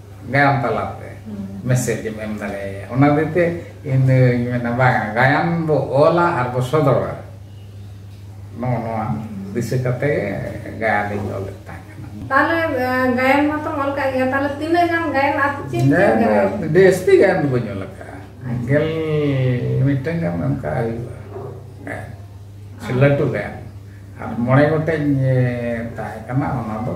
ᱜᱟᱭᱟᱱ ᱛᱟᱞᱟᱛᱮ ᱢᱮᱥᱮᱡᱽ ᱮᱢ ᱮᱢ ᱫᱟᱲᱮᱭᱟᱭᱟ ᱚᱱᱟ ᱦᱚᱛᱮᱡ ᱤᱧ ᱫᱚᱧ ᱢᱮᱱᱟ ᱵᱟᱝᱟ ᱜᱟᱭᱟᱱ ᱵᱚ ᱚᱞᱟ ᱟᱨ ᱵᱚ ᱥᱚᱫᱚᱨᱟ ᱱᱚᱜᱼᱚ ᱱᱚᱣᱟ ᱫᱤᱥᱟᱹ ᱠᱟᱛᱮ ᱜᱟᱭᱟᱱ ᱤᱧ ᱚᱞᱮᱫ ᱛᱟᱦᱮᱸ ᱠᱟᱱᱟ ᱛᱟᱦᱞᱮ ᱜᱟᱭᱟᱱ ᱢᱟᱛᱚᱢ ᱚᱞ ᱠᱟᱜ ᱜᱮᱭᱟ ᱛᱟᱦᱞᱮ ᱛᱤᱱᱟᱹᱜ ᱜᱟᱱ ᱜᱟᱭᱟᱱ ᱟᱨ ᱪᱮᱫ ᱜᱟᱭᱟᱱ ᱡᱟᱹᱥᱛᱤ ᱜᱟᱭᱟᱱ ᱫᱚ ᱵᱟᱹᱧ ᱚᱞ ᱠᱟᱜᱼᱟ ᱜᱮᱞ ᱢᱤᱫᱴᱟᱝ ᱜᱟᱱ ᱚᱱᱠᱟ ᱦᱩᱭᱩᱜᱼᱟ ᱜᱟᱭᱟᱱ ᱥᱮ ᱞᱟᱹᱴᱩ ᱜᱟᱭᱟᱱ ᱟᱨ ᱢᱚᱬᱮ ᱜᱚᱴᱮᱡ ᱛᱟᱦᱮᱸ ᱠᱟᱱᱟ ᱚᱱᱟ ᱫᱚ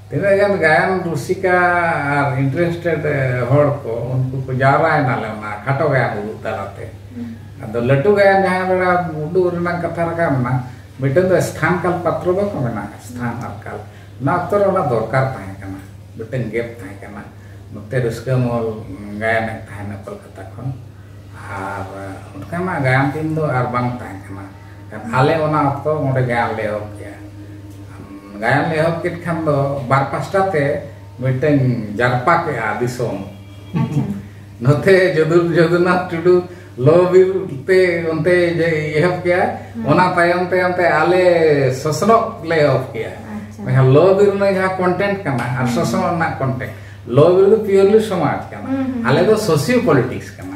ᱛᱤᱱᱟᱹᱜ ᱜᱟᱱ ᱜᱟᱭᱟᱱ ᱨᱩᱥᱤᱠᱟ ᱟᱨ ᱤᱱᱴᱟᱨᱮᱥᱴᱮᱰ ᱦᱚᱲ ᱠᱚ ᱩᱱᱠᱩ ᱠᱚ ᱡᱟᱣᱨᱟᱭᱮᱱᱟᱞᱮ ᱚᱱᱟ ᱠᱷᱟᱴᱚ ᱜᱟᱭᱟᱱ ᱩᱫᱩᱜ ᱛᱟᱞᱟᱛᱮ ᱟᱫᱚ ᱞᱟᱹᱴᱩ ᱜᱟᱭᱟᱱ ᱡᱟᱦᱟᱸ ᱵᱮᱲᱟ ᱩᱫᱩᱜ ᱨᱮᱱᱟᱜ ᱠᱟᱛᱷᱟ ᱨᱟᱠᱟᱵ ᱮᱱᱟ ᱢᱤᱫᱴᱟᱝ ᱫᱚ ᱥᱛᱷᱟᱱ ᱠᱟᱞ ᱯᱟᱛᱨᱚ ᱵᱟᱠᱚ ᱢᱮᱱᱟᱜᱼᱟ ᱥᱛᱷᱟᱱ ᱟᱨ ᱠᱟᱞ ᱚᱱᱟ ᱚᱠᱛᱚ ᱨᱮ ᱚᱱᱟ ᱫᱚᱨᱠᱟᱨ ᱛᱟᱦᱮᱸ ᱠᱟᱱᱟ ᱢᱤᱫᱴᱟᱝ ᱜᱮᱯ ᱛᱟᱦᱮᱸ ᱠᱟᱱᱟ ᱱᱚᱛᱮ ᱨᱟᱹᱥᱠᱟᱹ ᱢᱚᱞ ᱜᱟᱭᱟᱱᱮᱫ ᱛᱟᱦᱮᱱᱟ ᱠᱚᱞᱠᱟᱛᱟ ᱠᱷᱚᱱ ᱟᱨ ᱚᱱᱠᱟᱱᱟᱜ ᱜᱟᱭᱟᱱ ᱫᱤᱱ ᱫᱚ ᱟᱨ ᱵᱟᱝ ᱛᱟᱦᱮᱸ ᱠᱟᱱᱟ ᱟᱞᱮ ᱚᱱᱟ ᱚᱠᱛᱚ ᱚᱸᱰᱮ ᱜᱟᱭᱟᱱ ᱞᱮ ᱮᱦᱚᱵ ᱠᱮᱜᱼᱟ ᱜᱟᱭᱟᱱ ᱞᱮ ᱮᱦᱚᱵ ᱠᱮᱫ ᱠᱷᱟᱱ ᱫᱚ ᱵᱟᱨ ᱯᱟᱥᱴᱟ ᱛᱮ ᱢᱤᱫᱴᱟᱝ ᱡᱟᱨᱯᱟ ᱠᱮᱜᱼᱟ ᱫᱤᱥᱚᱢ ᱱᱚᱛᱮ ᱡᱚᱫᱩ ᱡᱚᱫᱩᱱᱟᱛᱷ ᱴᱩᱰᱩ ᱞᱚ ᱵᱤᱨ ᱛᱮ ᱚᱱᱛᱮ ᱮᱦᱚᱵ ᱠᱮᱜᱼᱟ ᱚᱱᱟ ᱛᱟᱭᱚᱢ ᱛᱟᱭᱚᱢ ᱛᱮ ᱟᱞᱮ ᱥᱚᱥᱱᱚᱜ ᱞᱮ ᱮᱦᱚᱵ ᱠᱮᱜᱼᱟ ᱢᱮᱱᱠᱷᱟᱱ ᱞᱚ ᱵᱤᱨ ᱨᱮᱱᱟᱜ ᱡᱟᱦᱟᱸ ᱠᱚᱱᱴᱮᱱᱴ ᱠᱟᱱᱟ ᱟᱨ ᱥᱚᱥᱱᱚᱜ ᱨᱮᱱᱟᱜ ᱠᱚᱱᱴᱮᱱᱴ ᱞᱚ ᱵᱤᱨ ᱫᱚ ᱯᱤᱭᱳᱨᱞᱤ ᱥᱚᱢᱟᱡᱽ ᱠᱟᱱᱟ ᱟᱞᱮ ᱫᱚ ᱥᱳᱥᱤᱭᱳ ᱯᱚᱞᱤᱴᱤᱠᱥ ᱠᱟᱱᱟ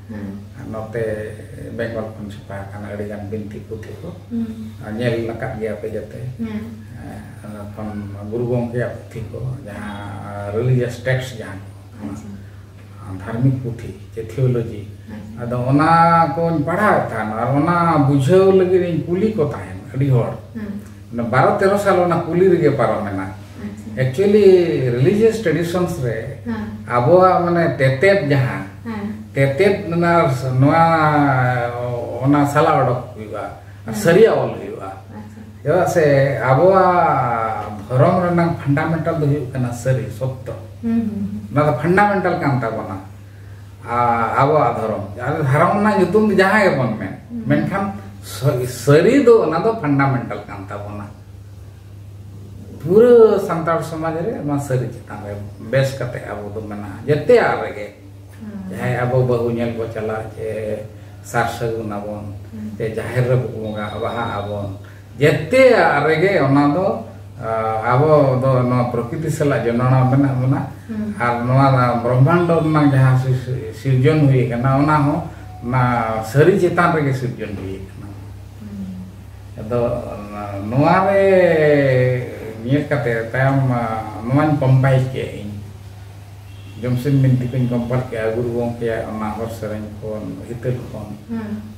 ᱱᱚᱛᱮ ᱵᱮᱝᱜᱚᱞ ᱠᱷᱚᱱ ᱪᱷᱟᱯᱟ ᱟᱠᱟᱱᱟ ᱟᱹᱰᱤ ᱜᱟᱱ ᱵᱤᱱᱛᱤ ᱯᱩᱛᱷᱤ ᱠᱚ ᱧᱮᱞ ᱟᱠᱟᱫ ᱜᱮᱭᱟ ᱯᱮ ᱡᱟᱛᱮ ᱠᱷᱚᱱ ᱜᱩᱨᱩ ᱜᱚᱢᱠᱮᱭᱟᱜ ᱯᱩᱛᱷᱤ ᱠᱚ ᱡᱟᱦᱟᱸ ᱨᱤᱞᱤᱡᱤᱭᱟᱥ ᱴᱮᱠᱥ ᱡᱟᱦᱟᱸ ᱫᱷᱟᱨᱢᱤᱠ ᱯᱩᱛᱷᱤ ᱪᱮ ᱛᱷᱤᱭᱳᱞᱚᱡᱤ ᱟᱫᱚ ᱚᱱᱟ ᱠᱚᱧ ᱯᱟᱲᱦᱟᱣᱮᱫ ᱛᱟᱦᱮᱱᱟ ᱟᱨ ᱚᱱᱟ ᱵᱩᱡᱷᱟᱹᱣ ᱞᱟᱹᱜᱤᱫ ᱤᱧ ᱠᱩᱞᱤ ᱠᱚ ᱛᱟᱦᱮᱱ ᱟᱹᱰᱤ ᱦᱚᱲ ᱚᱱᱟ ᱵᱟᱨᱚ ᱛᱮᱨᱚ ᱥᱟᱞ ᱚᱱᱟ ᱠᱩᱞᱤ ᱨᱮᱜᱮ ᱯᱟᱨᱚᱢ ᱮᱱᱟ ᱮᱠᱪᱩᱭᱮᱞᱤ ᱨᱤᱞᱤᱡᱤᱭᱟᱥ ᱴᱨᱮᱰᱤᱥᱚᱱᱥ ᱨᱮ ᱟᱵᱚᱣᱟᱜ ᱢᱟᱱᱮ ᱛᱮᱛᱮᱫ ᱡᱟᱦᱟᱸ ᱛᱮᱛᱮᱫ ᱚᱱᱟ ᱱᱚᱣᱟ ᱚᱱᱟ ᱥᱟᱞᱟ ᱚᱰᱚᱠ ᱦᱩᱭᱩᱜᱼᱟ ᱥᱟᱹᱨᱤᱭᱟᱜ ᱚᱞ ᱦᱩᱭᱩᱜᱼᱟ ᱪᱮᱫᱟᱜ ᱥᱮ ᱟᱵᱚᱣᱟᱜ ᱫᱷᱚᱨᱚᱢ ᱨᱮᱱᱟᱜ ᱯᱷᱟᱱᱰᱟᱢᱮᱱᱴᱟᱞ ᱫᱚ ᱦᱩᱭᱩᱜ ᱠᱟᱱᱟ ᱥᱟᱹᱨᱤ ᱥᱚᱛᱛᱚ ᱚᱱᱟ ᱫᱚ ᱯᱷᱟᱱᱰᱟᱢᱮᱱᱴᱟᱞ ᱠᱟᱱ ᱛᱟᱵᱚᱱᱟ ᱟᱵᱚᱣᱟᱜ ᱫᱷᱚᱨᱚᱢ ᱫᱷᱚᱨᱚᱢ ᱨᱮᱱᱟᱜ ᱧᱩᱛᱩᱢ ᱫᱚ ᱡᱟᱦᱟᱸ ᱜᱮᱵᱚᱱ ᱢᱮᱱ ᱢᱮᱱᱠᱷᱟᱱ ᱥᱟᱹᱨᱤ ᱫᱚ ᱚᱱᱟ ᱫᱚ ᱯᱷᱟᱱᱰᱟᱢᱮᱱᱴᱟᱞ ᱠᱟᱱ ᱛᱟᱵᱚᱱᱟ ᱯᱩᱨᱟᱹ ᱥᱟᱱᱛᱟᱲ ᱥᱚᱢᱟᱡᱽ ᱨᱮ ᱱᱚᱣᱟ ᱥᱟᱹᱨᱤ ᱪᱮᱛᱟᱱ ᱨᱮ ᱵᱮᱥ ᱠᱟᱛᱮ ᱟᱵᱚ ᱫᱚ ᱢᱮᱱᱟᱜᱼᱟ ᱡᱮᱛᱮᱭᱟᱜ ᱨᱮᱜᱮ ᱡᱟᱦᱟᱸᱭ ᱟᱵᱚ ᱵᱟᱹᱦᱩ ᱧᱮᱞ ᱵᱚ ᱪᱟᱞᱟᱜ ᱪᱮ ᱥᱟᱨ ᱥᱟᱹᱜᱩᱱ ᱟᱵᱚᱱ ᱪᱮ ᱡᱟᱦᱮᱨ ᱨᱮᱵᱚ ᱵᱚᱸᱜᱟ ᱵᱟᱦᱟ ᱟᱵᱚᱱ ᱡᱮᱛᱮᱭᱟᱜ ᱨᱮᱜᱮ ᱚᱱᱟ ᱫᱚ ᱟᱵᱚ ᱫᱚ ᱱᱚᱣᱟ ᱯᱨᱚᱠᱨᱤᱛᱤ ᱥᱟᱞᱟᱜ ᱡᱚᱱᱚᱲᱟᱣ ᱢᱮᱱᱟᱜ ᱵᱚᱱᱟ ᱟᱨ ᱱᱚᱣᱟ ᱵᱨᱚᱦᱢᱟᱱᱰᱚ ᱨᱮᱱᱟᱜ ᱡᱟᱦᱟᱸ ᱥᱤᱨᱡᱚᱱ ᱦᱩᱭ ᱟᱠᱟᱱᱟ ᱚᱱᱟ ᱦᱚᱸ ᱚᱱᱟ ᱥᱟᱹᱨᱤ ᱪᱮᱛᱟᱱ ᱨᱮᱜᱮ ᱥᱤᱨᱡᱚᱱ ᱦᱩᱭ ᱟᱠᱟᱱᱟ ᱟᱫᱚ ᱱᱚᱣᱟ ᱨᱮ ᱧᱮᱞ ᱠᱟᱛᱮ ᱛᱟᱭᱚᱢ ᱱᱚᱣᱟᱧ ᱠᱚᱢᱯᱟᱭ ᱠᱮᱫ ᱤᱧ ᱡᱚᱢᱥᱤᱱ ᱵᱤᱱᱛᱤ ᱠᱚᱧ ᱠᱚᱢᱯᱟᱭ ᱠᱮᱫᱼᱟ ᱜᱩᱨᱩ ᱜᱚᱢᱠᱮᱭᱟᱜ ᱚᱱᱟ ᱦᱚᱨ ᱥᱮᱨᱮᱧ ᱠᱷᱚᱱ ᱦᱤᱛᱟᱹᱞ ᱠᱷᱚᱱ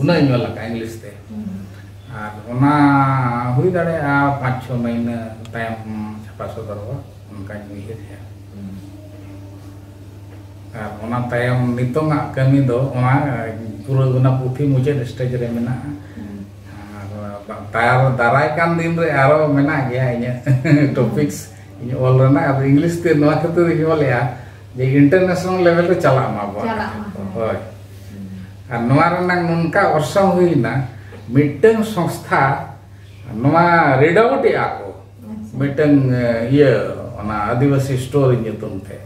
ᱩᱱᱟᱹᱜ ᱤᱧ ᱚᱞ ᱟᱠᱟᱫᱼᱟ ᱤᱝᱞᱤᱥ ᱛᱮ ᱟᱨ ᱚᱱᱟ ᱦᱩᱭ ᱫᱟᱲᱮᱭᱟᱜᱼᱟ ᱯᱟᱸᱪ ᱪᱷᱚ ᱢᱟᱹᱦᱤᱱᱟᱹ ᱛᱟᱭᱚᱢ ᱪᱷᱟᱯᱟ ᱥᱚᱫᱚᱨᱚᱜᱼᱟ ᱚᱱᱠᱟᱧ ᱩᱭᱦᱟᱹᱨᱮᱫᱼᱟ ᱟᱨ ᱚᱱᱟ ᱛᱟᱭᱚᱢ ᱱᱤᱛᱚᱝᱟᱜ ᱠᱟᱹᱢᱤ ᱫᱚ ᱚᱱᱟ ᱯᱩᱨᱟᱹ ᱚᱱᱟ ᱯᱩᱛᱷᱤ ᱢᱩᱪᱟᱹᱫ ᱥᱴᱮᱡᱽ ᱨᱮ ᱢᱮᱱᱟᱜᱼᱟ ᱟᱨ ᱫᱟᱨᱟᱭ ᱠᱟᱱ ᱫᱤᱱ ᱨᱮ ᱟᱨᱚ ᱢᱮᱱᱟᱜ ᱜᱮᱭᱟ ᱤᱧᱟᱹᱜ ᱴᱚᱯᱤᱠᱥ ᱤᱧ ᱚᱞ ᱨᱮᱱᱟᱜ ᱟᱫᱚ ᱤᱝᱞᱤᱥ ᱛᱮ ᱱᱚᱣᱟ ᱠᱷᱟᱹᱛᱤᱨ ᱤᱧ ᱚᱞᱮᱜᱼᱟ ᱡᱮ ᱤᱱᱴᱟᱨᱱᱮᱥᱱᱟᱞ ᱞᱮᱵᱮᱞ ᱨᱮ ᱪᱟᱞᱟᱜ ᱢᱟ ᱟᱵᱚ ᱦᱳᱭ ᱟᱨ ᱱᱚᱣᱟ ᱨᱮᱱᱟᱜ ᱱᱚᱝᱠᱟ ᱚᱨᱥᱚᱝ ᱦᱩᱭᱱᱟ ᱢᱤᱫᱴᱟᱝ ᱥᱚᱝᱥᱛᱷᱟ ᱱᱚᱣᱟ ᱨᱤᱰ ᱟᱣᱩᱴ ᱮᱜᱼᱟ ᱠᱚ ᱢᱤᱫᱴᱟᱝ ᱤᱭᱟᱹ ᱚᱱᱟ ᱟᱹᱫᱤᱵᱟᱹᱥᱤ ᱥᱴᱳᱨᱤ ᱧᱩᱛᱩᱢ ᱛᱮ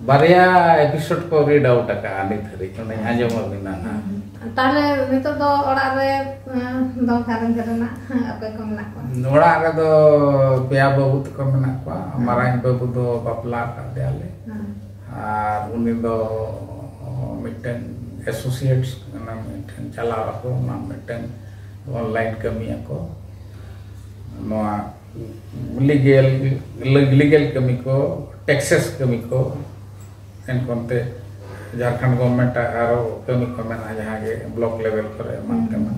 ᱵᱟᱨᱭᱟ ᱮᱯᱤᱥᱳᱰ ᱠᱚ ᱨᱤᱰ ᱟᱣᱩᱴ ᱟᱠᱟᱫᱼᱟ ᱱᱤᱛ ᱦᱟᱹᱨᱤᱡ ᱚᱱᱟᱧ ᱟᱸᱡᱚᱢ ᱟᱹᱵᱤᱱᱟ ᱱᱟᱦᱟᱜ ᱛᱟᱦᱞᱮ ᱱᱤᱛᱚᱜ ᱫᱚ ᱚᱲᱟᱜ ᱨᱮ ᱫᱚ ᱜᱷᱟᱨᱚᱸᱡᱽ ᱨᱮᱱᱟᱜ ᱚᱠᱚᱭ ᱠᱚ ᱢᱮᱱᱟᱜ ᱠᱚᱣᱟ ᱚᱲᱟᱜ ᱨᱮᱫᱚ ᱯᱮᱭᱟ ᱵᱟᱹᱵᱩ ᱛᱟᱠᱚ ᱢᱮᱱᱟᱜ ᱠᱚᱣᱟ ᱢᱟᱨᱟᱝ ᱵᱟᱹᱵᱩ ᱫᱚ ᱵᱟᱯᱞᱟ ᱟᱠᱟᱫ ᱫᱮᱭᱟᱞᱮ ᱟᱨ ᱩᱱᱤ ᱫᱚ ᱢᱤᱫᱴᱮᱱ ᱮᱥᱳᱥᱤᱭᱮᱴ ᱚᱱᱟ ᱢᱤᱫᱴᱮᱱ ᱪᱟᱞᱟᱣ ᱟᱠᱚ ᱚᱱᱟ ᱢᱤᱫᱴᱮᱱ ᱚᱱᱞᱟᱭᱤᱱ ᱠᱟᱹᱢᱤ ᱟᱠᱚ ᱱᱚᱣᱟ ᱞᱤᱜᱮᱞ ᱞᱤᱜᱮᱞ ᱠᱟᱹᱢᱤ ᱠᱚ ᱴᱮᱠᱥᱮᱥ ᱠᱟᱹᱢᱤ ᱠᱚ ᱮᱱᱠᱷᱚᱱᱛᱮ ᱡᱷᱟᱨᱠᱷᱚᱸᱰ ᱜᱚᱵᱷᱢᱮᱱᱴ ᱟᱨᱚ ᱠᱟᱹᱢᱤ ᱠᱚ ᱢᱮᱱᱟᱜᱼᱟ ᱡᱟᱦᱟᱸ ᱜᱮ ᱵᱞᱚᱠ ᱞᱮᱵᱮᱞ ᱠᱚᱨᱮ ᱮᱢᱟᱱ ᱛᱮᱢᱟᱱ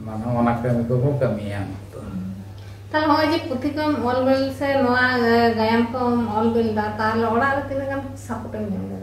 ᱚᱱᱟ ᱦᱚᱸ ᱚᱱᱟ ᱠᱟᱹᱢᱤ ᱠᱚᱠᱚ ᱠᱟᱹᱢᱤᱭᱟ ᱛᱟᱦᱚᱞᱮ ᱱᱚᱜᱼᱚᱭ ᱡᱮ ᱯᱩᱛᱷᱤ ᱠᱚᱢ ᱚᱞ ᱵᱮᱞ ᱥᱮ ᱱᱚᱣᱟ ᱜᱟᱭᱟᱱ ᱠᱚᱢ ᱚᱞ ᱵᱮᱞ ᱫᱟ ᱛᱟᱦᱚᱞᱮ ᱚᱲᱟᱜ ᱨᱮ ᱛᱤᱱᱟᱹᱜ ᱜᱟᱱ ᱥᱟᱯᱳᱨᱴ ᱮᱢ ᱧᱟᱢ ᱫᱟ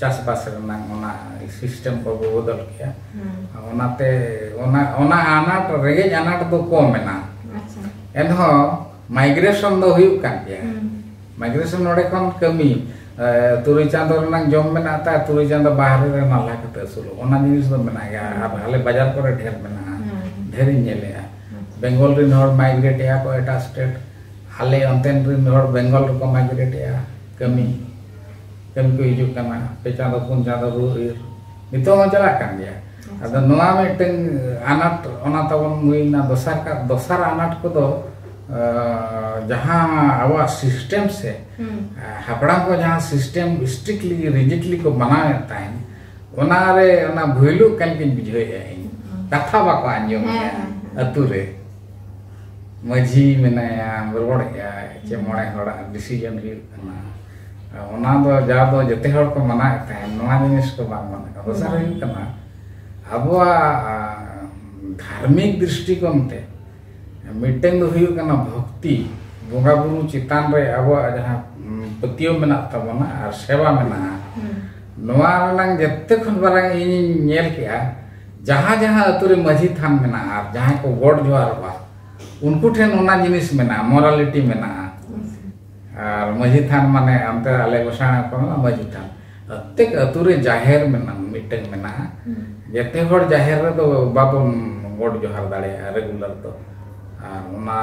ᱪᱟᱥᱵᱟᱥ ᱨᱮᱱᱟᱜ ᱚᱱᱟ ᱥᱤᱥᱴᱮᱢ ᱠᱚ ᱟᱹᱜᱩ ᱵᱚᱫᱚᱞ ᱠᱮᱜᱼᱟ ᱚᱱᱟᱛᱮ ᱚᱱᱟ ᱚᱱᱟ ᱟᱱᱟᱴ ᱨᱮᱸᱜᱮᱡ ᱟᱱᱟᱴ ᱫᱚ ᱠᱚᱢ ᱮᱱᱟ ᱮᱱᱦᱚᱸ ᱢᱟᱭᱜᱨᱮᱥᱚᱱ ᱫᱚ ᱦᱩᱭᱩᱜ ᱠᱟᱱ ᱜᱮᱭᱟ ᱢᱟᱭᱜᱨᱮᱥᱚᱱ ᱱᱚᱰᱮ ᱠᱷᱚᱱ ᱠᱟᱹᱢᱤ ᱛᱩᱨᱩᱭ ᱪᱟᱸᱫᱚ ᱨᱮᱱᱟᱜ ᱡᱚᱢ ᱢᱮᱱᱟᱜ ᱛᱟᱭ ᱛᱩᱨᱩᱭ ᱪᱟᱸᱫᱚ ᱵᱟᱦᱨᱮ ᱨᱮ ᱱᱟᱞᱦᱟ ᱠᱟᱛᱮ ᱟᱹᱥᱩᱞᱚᱜ ᱚᱱᱟ ᱡᱤᱱᱤᱥ ᱫᱚ ᱢᱮᱱᱟᱜ ᱜᱮᱭᱟ ᱟᱨ ᱟᱞᱮ ᱵᱟᱡᱟᱨ ᱠᱚᱨᱮ ᱰᱷᱮᱨ ᱢᱮᱱᱟᱜᱼᱟ ᱰᱷᱮᱨᱤᱧ ᱧᱮᱞᱮᱜᱼᱟ ᱵᱮᱝᱜᱚᱞ ᱨᱮᱱ ᱦᱚᱲ ᱢᱟᱭᱜᱨᱮᱴᱮᱜᱼᱟ ᱠᱚ ᱮᱴᱟᱜ ᱥᱴᱮᱴ ᱟᱞᱮ ᱚᱱᱛᱮᱱ ᱨᱮᱱ ᱦᱚᱲ ᱵᱮᱝᱜᱚᱞ ᱨᱮᱠᱚ ᱢᱟᱭᱜᱨᱮᱴᱮᱜᱼᱟ ᱠᱟᱹᱢᱤ ᱠᱟᱹᱢᱤ ᱠᱚ ᱦᱤᱡᱩᱜ ᱠᱟᱱᱟ ᱯᱮ ᱪᱟᱸᱫᱚ ᱯᱩᱱ ᱪᱟᱸᱫᱚ ᱨᱩᱣᱟᱹ ᱤᱨ ᱱᱤᱛᱚᱜ ᱦᱚᱸ ᱪᱟᱞᱟᱜ ᱠᱟᱱ ᱜᱮᱭᱟ ᱟᱫᱚ ᱱᱚᱣᱟ ᱢᱤᱫᱴᱟᱝ ᱟᱱᱟᱴ ᱚᱱᱟ ᱛᱟᱵᱚᱱ ᱦᱩᱭᱱᱟ ᱫᱚᱥᱟᱨ ᱫᱚᱥᱟᱨ ᱟᱱᱟᱴ ᱠᱚᱫᱚ ᱡᱟᱦᱟᱸ ᱟᱵᱚᱣᱟᱜ ᱥᱤᱥᱴᱮᱢ ᱥᱮ ᱦᱟᱯᱲᱟᱢ ᱠᱚ ᱡᱟᱦᱟᱸ ᱥᱤᱥᱴᱮᱢ ᱥᱴᱨᱤᱠᱴᱞᱤ ᱨᱤᱡᱤᱴᱞᱤ ᱠᱚ ᱢᱟᱱᱟᱣᱮᱫ ᱛᱟᱦᱮᱸᱫ ᱚᱱᱟᱨᱮ ᱚᱱᱟ ᱵᱷᱩᱭᱞᱩᱜ ᱠᱟᱱ ᱜᱤᱧ ᱵᱩᱡᱷᱟᱹᱣᱮᱫᱼᱟ ᱤᱧ ᱠᱟᱛᱷᱟ ᱵᱟᱠᱚ ᱟᱸᱡᱚᱢᱮᱫᱼᱟ ᱟᱹᱛᱩ ᱨᱮ ᱢᱟᱹᱡᱷᱤ ᱢᱮᱱᱟᱭᱟ ᱨᱚᱲᱮᱜᱼᱟᱭ ᱪᱮ ᱢᱚᱬᱮ ᱦᱚᱲᱟᱜ ᱰᱤᱥᱤᱡᱚᱱ ᱦᱩᱭᱩᱜ ᱠᱟᱱᱟ ᱚᱱᱟ ᱫᱚ ᱡᱟ ᱫᱚ ᱡᱚᱛᱚ ᱦᱚᱲ ᱠᱚ ᱢᱟᱱᱟᱣᱮᱫ ᱛᱟᱦᱮᱸᱫ ᱱᱚᱣᱟ ᱡᱤᱱᱤᱥ ᱠᱚ ᱵᱟᱝ ᱢᱟᱱᱟᱜ ᱠᱟᱱᱟ ᱫᱚᱥᱟᱨ ᱦᱩᱭᱩᱜ ᱠᱟᱱᱟ ᱟᱵᱚᱣᱟᱜ ᱫᱷᱟᱨᱢᱤᱠ ᱫᱨᱤᱥᱴᱤᱠᱳᱱ ᱛᱮ ᱢᱤᱫᱴᱮᱱ ᱫᱚ ᱦᱩᱭᱩᱜ ᱠᱟᱱᱟ ᱵᱷᱚᱠᱛᱤ ᱵᱚᱸᱜᱟ ᱵᱩᱨᱩ ᱪᱮᱛᱟᱱ ᱨᱮ ᱟᱵᱚᱣᱟᱜ ᱡᱟᱦᱟᱸ ᱯᱟᱹᱛᱭᱟᱹᱣ ᱢᱮᱱᱟᱜ ᱛᱟᱵᱚᱱᱟ ᱟᱨ ᱥᱮᱵᱟ ᱢᱮᱱᱟᱜᱼᱟ ᱱᱚᱣᱟ ᱨᱮᱱᱟᱝ ᱡᱚᱛᱚ ᱠᱷᱚᱱ ᱢᱟᱨᱟᱝ ᱤᱧᱤᱧ ᱧᱮᱞ ᱠᱮᱜᱼᱟ ᱡᱟᱦᱟᱸ ᱡᱟᱦᱟᱸ ᱟᱹᱛᱩ ᱨᱮ ᱢᱟᱹᱡᱷᱤ ᱛᱷᱟᱱ ᱢᱮᱱᱟᱜᱼᱟ ᱟᱨ ᱡᱟᱦᱟᱸᱭ ᱠᱚ ᱜᱚᱰ ᱡᱚᱦᱟᱨᱚᱜᱼᱟ ᱩᱱᱠᱩ ᱴᱷᱮᱱ ᱚᱱᱟ ᱡᱤᱱᱤᱥ ᱢᱮᱱᱟᱜᱼᱟ ᱢᱚᱨᱟᱞᱤᱴᱤ ᱢᱮᱱᱟᱜᱼᱟ ᱟᱨ ᱢᱟᱹᱡᱷᱤ ᱛᱷᱟᱱ ᱢᱟᱱᱮ ᱚᱱᱛᱮ ᱟᱞᱮ ᱜᱚᱥᱟᱬᱟ ᱠᱚ ᱢᱮᱱᱟ ᱢᱟᱹᱡᱷᱤ ᱛᱷᱟᱱ ᱯᱨᱚᱛᱮᱠ ᱟᱹᱛᱩ ᱨᱮ ᱡᱟᱦᱮᱨ ᱢᱮᱱᱟᱜᱼᱟ ᱢᱤᱫᱴᱟᱝ ᱢᱮᱱᱟᱜᱼᱟ ᱡᱮᱛᱮ ᱦᱚᱲ ᱡᱟᱦᱮᱨ ᱨᱮᱫᱚ ᱵᱟᱵᱚᱱ ᱜᱚᱰ ᱡᱚᱦᱟᱨ ᱫᱟᱲᱮᱭᱟᱜᱼᱟ ᱨᱮᱜᱩᱞᱟᱨ ᱫᱚ ᱟᱨ ᱚᱱᱟ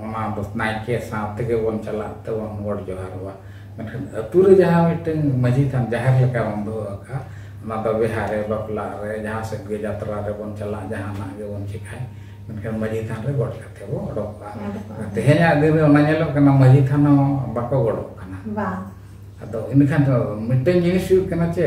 ᱚᱱᱟ ᱫᱚ ᱱᱟᱭᱠᱮ ᱥᱟᱶ ᱛᱮᱜᱮ ᱵᱚᱱ ᱪᱟᱞᱟᱜ ᱛᱮᱵᱚᱱ ᱜᱚᱰ ᱡᱚᱦᱟᱨᱚᱜᱼᱟ ᱢᱮᱱᱠᱷᱟᱱ ᱟᱹᱛᱩ ᱨᱮ ᱡᱟᱦᱟᱸ ᱢᱤᱫᱴᱟᱝ ᱢᱟᱺᱡᱷᱤ ᱛᱷᱟᱱ ᱡᱟᱦᱮᱨ ᱞᱮᱠᱟ ᱵᱚᱱ ᱫᱚᱦᱚ ᱟᱠᱟᱫᱼᱟ ᱚᱱᱟ ᱫᱚ ᱵᱤᱦᱟ ᱨᱮ ᱵᱟᱯᱞᱟ ᱨᱮ ᱡᱟᱦᱟᱸ ᱥᱮᱫ ᱜᱮ ᱡᱟᱛᱨᱟ ᱨᱮᱵᱚᱱ ᱪᱟᱞᱟᱜ ᱡᱟᱦᱟᱱᱟᱜ ᱜᱮᱵᱚᱱ ᱪᱤᱠᱟᱹᱭ ᱢᱮᱱᱠᱷᱟᱱ ᱢᱟᱺᱡᱷᱤ ᱛᱷᱟᱱ ᱨᱮ ᱜᱚᱰ ᱠᱟᱛᱮ ᱵᱚ ᱚᱰᱚᱠ ᱠᱟᱜᱼᱟ ᱛᱮᱦᱮᱧᱟᱜ ᱫᱤᱱ ᱨᱮ ᱚᱱᱟ ᱧᱮᱞᱚᱜ ᱠᱟᱱᱟ ᱢᱟᱺᱡᱷᱤ ᱛᱷᱟᱱ ᱦᱚᱸ ᱵᱟᱠᱚ ᱜᱚᱰᱚᱜ ᱠᱟᱱᱟ ᱟᱫᱚ ᱤᱱᱟᱹᱠᱷᱟᱱ ᱫᱚ ᱢᱤᱫᱴᱟᱝ ᱡᱤᱱᱤᱥ ᱦᱩᱭᱩᱜ ᱠᱟᱱᱟ ᱪᱮ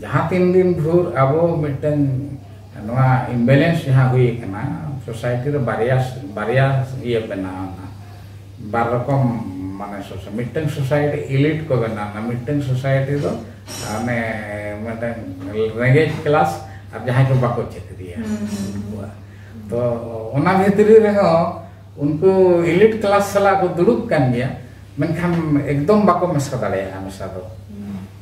ᱡᱟᱦᱟᱸ ᱛᱤᱱ ᱫᱤᱱ ᱵᱷᱳᱨ ᱟᱵᱚ ᱢᱤᱫᱴᱟᱝ ᱱᱚᱣᱟ ᱤᱢᱵᱮᱞᱮᱱᱥ ᱡᱟᱦᱟᱸ ᱦᱩᱭ ᱟᱠᱟᱱᱟ ᱥᱳᱥᱟᱭᱴᱤ ᱨᱮ ᱵᱟᱨᱭᱟ ᱵᱟᱨᱭᱟ ᱤᱭᱟᱹ ᱵᱮᱱᱟᱣᱱᱟ ᱵᱟᱨ ᱨᱚᱠᱚᱢ ᱢᱟᱱᱮ ᱢᱤᱫᱴᱟᱝ ᱥᱳᱥᱟᱭᱴᱤ ᱤᱞᱤᱴ ᱠᱚ ᱵᱮᱱᱟᱣᱱᱟ ᱢᱤᱫᱴᱟᱝ ᱥᱳᱥᱟᱭᱴᱤ ᱫᱚ ᱢᱟᱱᱮ ᱢᱤᱫᱴᱟᱝ ᱨᱮᱸᱜᱮᱡ ᱠᱞᱟᱥ ᱟᱨ ᱡᱟᱦᱟᱸᱭ ᱠᱚ ᱵᱟᱠᱚ ᱪᱟᱹᱠᱨᱤᱭᱟ ᱩᱱᱠᱩᱣᱟᱜ ᱛᱚ ᱚᱱᱟ ᱵᱷᱤᱛᱨᱤ ᱨᱮᱦᱚᱸ ᱩᱱᱠᱩ ᱤᱞᱤᱴ ᱠᱞᱟᱥ ᱥᱟᱞᱟᱜ ᱠᱚ ᱫᱩᱲᱩᱵ ᱠᱟᱱ ᱜᱮᱭᱟ ᱢᱮᱱᱠᱷᱟᱱ ᱮᱠᱫᱚᱢ ᱵᱟᱠᱚ ᱢᱮᱥᱟ ᱫᱟᱲᱮᱭᱟᱜᱼᱟ ᱢᱮᱥᱟ ᱫᱚ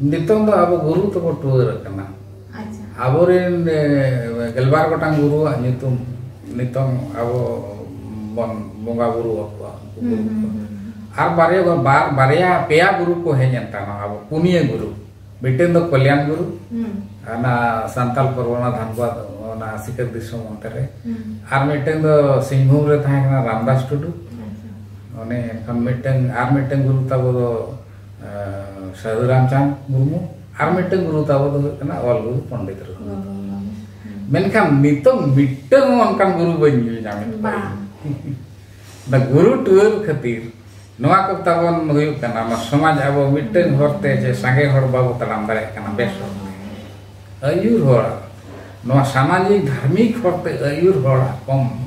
ᱱᱤᱛᱚᱝ ᱫᱚ ᱟᱵᱚ ᱜᱩᱨᱩ ᱛᱮᱵᱚ ᱴᱩᱣᱟᱹᱨ ᱟᱠᱟᱱᱟ ᱟᱵᱚᱨᱮᱱ ᱜᱮᱞᱵᱟᱨ ᱜᱚᱴᱟᱝ ᱜᱩᱨᱩᱣᱟᱜ ᱧᱩᱛᱩᱢ ᱱᱤᱛᱚᱝ ᱟᱵᱚ ᱵᱚᱱ ᱵᱚᱸᱜᱟ ᱵᱩᱨᱩ ᱟᱠᱚᱣᱟ ᱟᱨ ᱵᱟᱨᱭᱟ ᱵᱟᱨ ᱵᱟᱨᱭᱟ ᱯᱮᱭᱟ ᱜᱩᱨᱩ ᱠᱚ ᱦᱮᱡ ᱮᱱ ᱛᱟᱦᱮᱱᱟ ᱟᱵᱚ ᱯᱩᱱᱭᱟᱹ ᱜᱩᱨᱩ ᱢᱤᱫᱴᱮᱱ ᱫᱚ ᱠᱚᱞᱭᱟᱱ ᱜᱩᱨᱩ ᱚᱱᱟ ᱥᱟᱱᱛᱟᱞ ᱯᱚᱨᱜᱚᱱᱟ ᱫᱷᱟᱱᱵᱟᱫᱽ ᱚᱱᱟ ᱥᱤᱠᱟᱹᱨ ᱫᱤᱥᱚᱢ ᱚᱱᱛᱮ ᱨᱮ ᱟᱨ ᱢᱤᱫᱴᱮᱱ ᱫᱚ ᱥᱤᱝᱵᱷᱩᱢ ᱨᱮ ᱛᱟᱦᱮᱸ ᱠᱟᱱᱟ ᱨᱟᱢᱫᱟᱥ ᱴᱩᱰᱩ ᱚᱱᱮ ᱮᱱᱠᱷᱟᱱ ᱢᱤᱫᱴᱮᱱ ᱟᱨ ᱢᱤᱫᱴᱮᱱ ᱜᱩᱨᱩ ᱛᱟᱵᱚ ᱫᱚ ᱥᱟᱹᱫᱷᱩ ᱨᱟᱢᱪᱟᱸᱫᱽ ᱢᱩᱨᱢᱩ ᱟᱨ ᱢᱤᱫᱴᱟᱝ ᱜᱩᱨᱩ ᱛᱟᱵᱚ ᱫᱚ ᱦᱩᱭᱩᱜ ᱠᱟᱱᱟ ᱚᱞ ᱜᱩᱨᱩ ᱯᱚᱱᱰᱤᱛ ᱨᱚᱜᱷᱩᱱᱟᱛᱷ ᱢᱮᱱᱠᱷᱟᱱ ᱱᱤᱛᱚᱝ ᱢᱤᱫᱴᱟᱝ ᱦᱚᱸ ᱚᱱᱠᱟᱱ ᱜᱩᱨᱩ ᱵᱟᱹᱧ ᱧᱮᱞ ᱧᱟᱢᱮᱫ ᱠᱚᱣᱟ ᱜᱩᱨᱩ ᱴᱩᱣᱟᱹᱨ ᱠᱷᱟᱹᱛᱤᱨ ᱱᱚᱣᱟ ᱠᱚ ᱛᱟᱵᱚᱱ ᱦᱩᱭᱩᱜ ᱠᱟᱱᱟ ᱱᱚᱣᱟ ᱥᱚᱢᱟᱡᱽ ᱟᱵᱚ ᱢᱤᱫᱴᱟᱝ ᱦᱚᱨᱛᱮ ᱡᱮ ᱥᱟᱸᱜᱮ ᱦᱚᱲ ᱵᱟᱵᱚ ᱛᱟᱲᱟᱢ ᱫᱟᱲᱮᱭᱟᱜ ᱠᱟᱱᱟ ᱵᱮᱥ ᱦᱚᱲ ᱟᱹᱭᱩᱨ ᱦᱚᱲ ᱱᱚᱣᱟ ᱥᱟᱢᱟᱡᱤᱠ ᱫᱷᱟᱨᱢᱤᱠ ᱦᱚᱨᱛᱮ ᱟᱹᱭᱩᱨ ᱦᱚᱲ ᱠᱚᱢ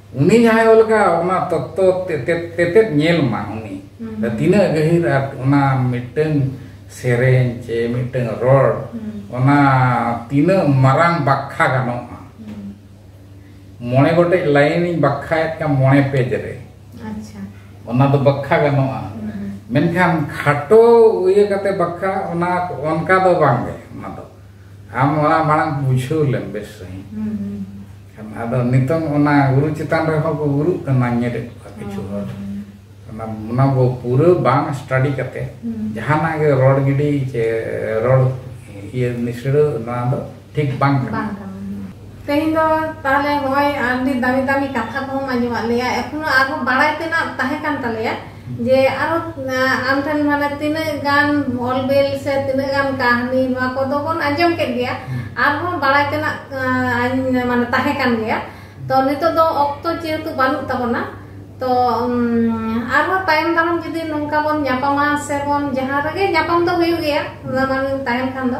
ᱩᱱᱤ ᱡᱟᱦᱟᱸᱭ ᱚᱞ ᱠᱟᱜ ᱚᱱᱟ ᱛᱚᱛᱛᱚ ᱛᱮᱛᱮᱫ ᱧᱮᱞ ᱢᱟ ᱩᱱᱤ ᱛᱤᱱᱟᱹᱜ ᱜᱟᱹᱦᱤᱨ ᱟᱨ ᱚᱱᱟ ᱢᱤᱫᱴᱟᱝ ᱥᱮᱨᱮᱧ ᱪᱮ ᱢᱤᱫᱴᱟᱝ ᱨᱚᱲ ᱚᱱᱟ ᱛᱤᱱᱟᱹᱜ ᱢᱟᱨᱟᱝ ᱵᱟᱠᱷᱟ ᱜᱟᱱᱚᱜᱼᱟ ᱢᱚᱬᱮ ᱜᱚᱴᱮᱡ ᱞᱟᱭᱤᱱ ᱤᱧ ᱵᱟᱠᱷᱟᱭᱮᱫ ᱠᱟᱱ ᱢᱚᱬᱮ ᱯᱮᱡᱽ ᱨᱮ ᱚᱱᱟ ᱫᱚ ᱵᱟᱠᱷᱟ ᱜᱟᱱᱚᱜᱼᱟ ᱢᱮᱱᱠᱷᱟᱱ ᱠᱷᱟᱴᱚ ᱤᱭᱟᱹ ᱠᱟᱛᱮ ᱵᱟᱠᱷᱟ ᱚᱱᱟ ᱚᱱᱠᱟ ᱫᱚ ᱵᱟᱝᱜᱮ ᱚᱱᱟ ᱫᱚ ᱟᱢ ᱚᱱᱟ ᱢᱟᱲᱟᱝ ᱵᱩᱡᱷᱟᱹᱣ ᱞᱮᱢ ᱵᱮᱥ ᱥᱟᱺᱦᱤᱡ ᱟᱫᱚ ᱱᱤᱛᱚᱝ ᱚᱱᱟ ᱜᱩᱨᱩ ᱪᱮᱛᱟᱱ ᱨᱮᱦᱚᱸ ᱠᱚ ᱜᱩᱨᱩᱜ ᱠᱟᱱᱟ ᱧᱮᱞᱮᱫ ᱠᱚᱣᱟ ᱠᱤᱪᱷᱩ ᱦᱚᱲ ᱚᱱᱟ ᱚᱱᱟ ᱵᱚ ᱯᱩᱨᱟᱹ ᱵᱟᱝ ᱥᱴᱟᱰᱤ ᱠᱟᱛᱮ ᱡᱟᱦᱟᱱᱟᱜ ᱜᱮ ᱨᱚᱲ ᱜᱤᱰᱤ ᱪᱮ ᱨᱚᱲ ᱤᱭᱟᱹ ᱱᱤᱥᱲᱟᱹ ᱱᱚᱣᱟ ᱫᱚ ᱴᱷᱤᱠ ᱵᱟᱝ ᱠᱟᱱᱟ ᱛᱮᱦᱮᱧ ᱫᱚ ᱛᱟᱦᱞᱮ ᱦᱚᱭ ᱟᱹᱰᱤ ᱫᱟᱢᱤ ᱫᱟᱢᱤ ᱠᱟᱛᱷᱟ ᱠᱚᱦᱚᱸ ᱟᱸᱡᱚᱢᱟᱜ ᱞᱮᱭᱟ ᱮᱠᱷᱚᱱ ᱟᱨᱦᱚᱸ ᱵᱟᱲᱟᱭ ᱛᱮᱱᱟᱜ ᱛᱟᱦᱮᱸ ᱠᱟᱱ ᱛᱟᱞᱮᱭᱟ ᱡᱮ ᱟᱨᱦᱚᱸ ᱟᱢ ᱴᱷᱮᱱ ᱢᱟᱱᱮ ᱛᱤᱱᱟᱹᱜ ᱜᱟᱱ ᱚᱞᱵᱮᱞ ᱥᱮ ᱛᱤᱱᱟᱹᱜ ᱜᱟᱱ ᱠᱟᱹᱦᱱᱤ ᱱᱚᱣᱟ ᱠᱚᱫᱚ ᱵᱚᱱ ᱟᱸᱡᱚᱢ ᱠᱮᱫ ᱜᱮᱭᱟ ᱟᱨᱦᱚᱸ ᱵᱟᱲᱟᱭ ᱛᱮᱱᱟᱜ ᱢᱟᱱᱮ ᱛᱟᱦᱮᱸ ᱠᱟᱱ ᱜᱮᱭᱟ ᱛᱚ ᱱᱤᱛᱚᱜ ᱫᱚ ᱚᱠᱛᱚ ᱡᱮᱦᱮᱛᱩ ᱵᱟᱹᱱᱩᱜ ᱛᱟᱵᱚᱱᱟ ᱛᱚ ᱟᱨᱦᱚᱸ ᱛᱟᱭᱚᱢ ᱫᱟᱨᱟᱢ ᱡᱩᱫᱤ ᱱᱚᱝᱠᱟ ᱵᱚᱱ ᱧᱟᱯᱟᱢᱟ ᱥᱮ ᱵᱚᱱ ᱡᱟᱦᱟᱸ ᱨᱮᱜᱮ ᱧᱟᱯᱟᱢ ᱫᱚ ᱦᱩᱭᱩᱜ ᱜᱮᱭᱟ ᱚᱱᱟ ᱢᱟᱱᱮ ᱛᱟᱦᱮᱱ ᱠᱷᱟᱱ ᱫᱚ